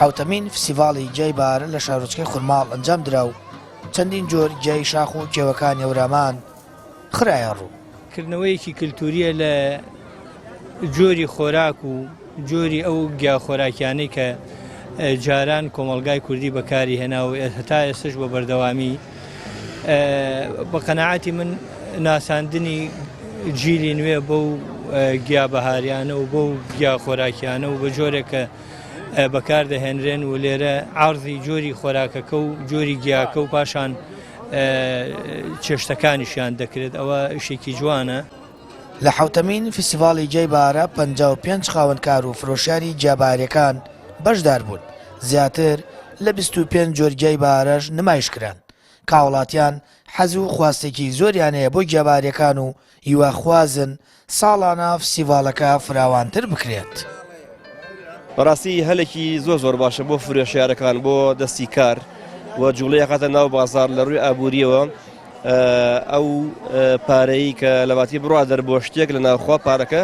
حەوتەمین فسیڤاڵی گیای بار لە شارۆچکەی خورماڵ ئەنجام درا و چەندین جۆر گیای شاخ و کێوەکانی ئەورامان خراە ڕوو کردنەوەیەکی کللتوریە لە جۆری خۆراک و جۆری ئەو گیا خۆراکیانەی کە جاران کۆمەلگای کوردی بەکاری هێنا و هەتا ئێستش بە بەردەوامی بە قەناعەتی من ناساندنی جیلی نوێ بەو گیا بەهاریانە و بەو گیا خۆراکیانە و بە جۆرێک کە بەکاردەهێنرێن و لێرە ئارزی جۆری خۆراکەکە و جۆری گیاکە و پاشان چێشتەکانیشیان دەکرێت ئەوە شێکی جوانە. لە حەوتەمین فیستیڤاڵی جەی بارە پەنجا و پێنج خاوەنکار و فرۆشیاری گیا بەهارەکان بەشدار بوون، زیاتر لە بیست و پێنج جۆر گیای بەهارەش نمایش کران، کاوڵاتیان حەز و خواستێکی زۆریان هەیە بۆ گیا بەهارەکان و هیوا خوازن ساڵانە فستیڤاڵەکە فراوانتر بکرێت. بەڕاستی هەلێکی زۆر زۆر باشە بۆ فرۆشیارەکان بۆ دەستی کار و جوڵەی ئەخاتە ناو بازاڕ لە ڕووی ئابووریەوە، ئەو پارەی کە لەباتی بڕا دەر بۆ شتێک لە ناوخوا پارەکە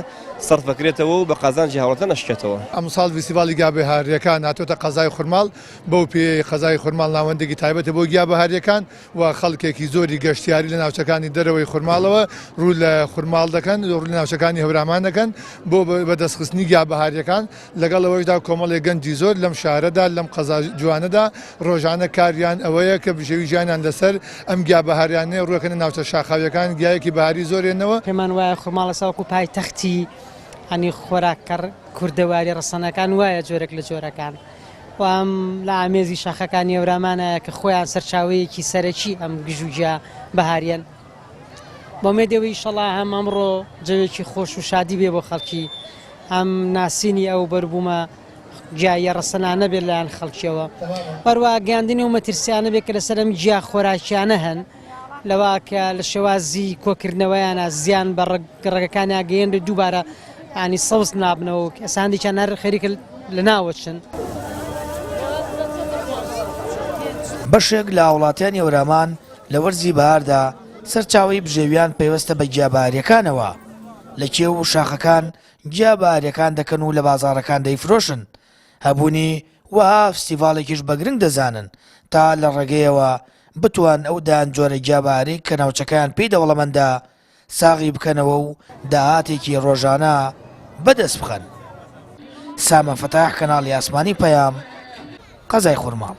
سەرفەکرێتەوە و بە قازانجی هاوڵاتە نەشکێتەوە. ئەمساڵ ڤیستیڤاڵی گیا بەهاریەکان هاتۆتە قەزای خورماڵ، بەو پێیەی قەزای خورماڵ ناوەندێکی تایبەتە بۆ گیا بەهاریەکان و خەڵکێکی زۆری گەشتیاری لە ناوچەکانی دەرەوەی خورماڵەوە روو لە خورماڵ دەکەن و روو لە ناوچەکانی هەورامان دەکەن بۆ بەدەستخستنی گیا بەهاریەکان لەگەڵ ئەوەشدا کۆمەڵێک گەنجی زۆر لەم شارەدا، لەم قەزا جوانەدا ڕۆژانە کاریان ئەوەیە کە بژێوی ژیانیان لەسەر ئەم گیا بەهاریانەیە ڕوەکەنە ناوچە شاخاویەکان گیایەکی بەهاری زۆر هێنەوە. پێمان وایە خورماڵەسا وەکو پایتەختی هەنی خۆراکە کوردەواریە ڕەسەنەکان وایە جۆرێک لە جۆرەکان و ئەم لە ئامێزی شاخەکانی ئەورامانایە کە خۆیان سەرچاوەیەکی سەرەکی ئەم گژوگیا بەهاریەن. بەومێدی ئەوەی ئیشەڵا هەم ئەمڕۆ جەوێکی خۆش و شادی بێ بۆ خەڵکی هەم ناسینی ئەو بەربوومە گیاییە ڕەسەنانە بێت لایەن خەڵکیەوە بەروە گەاندنی و مەترسیانە بێت کە لەسەر ئەم جیا خۆراکیانە هەن لەوا کە لە شێوازی کۆکردنەوەیانە زیان بە ڕگەکانی ئاگەیەن بێت دووبارە ئانی سەوز نابنەوە ئەساندێکیان هەر خەریکە لە ناوەچن. بەشێک لە هاوڵاتیانی هەورامان لە وەرزی بەهاردا سەرچاوەی بژێویان پەیوەستە بە گیا بەهاریەکانەوە، لە کێو و شاخەکان گیا بەهاریەکان دەکەن و لە بازاڕەکان دەیفرۆشن، هەبوونی وەها فستیڤاڵێکیش بە گرنگ دەزانن تا لە ڕێگەیەوە بتوان ئەو دەیان جۆرە گیا بەهارەی کە ناوچەکەیان پێی دەوڵەمەندە ساغی بکەنەوە و داهاتێکی ڕۆژانە بەدەست بخەن. سامە فەتاح کەناڵی ئاسمانی پەیام، قەزای خورماڵ.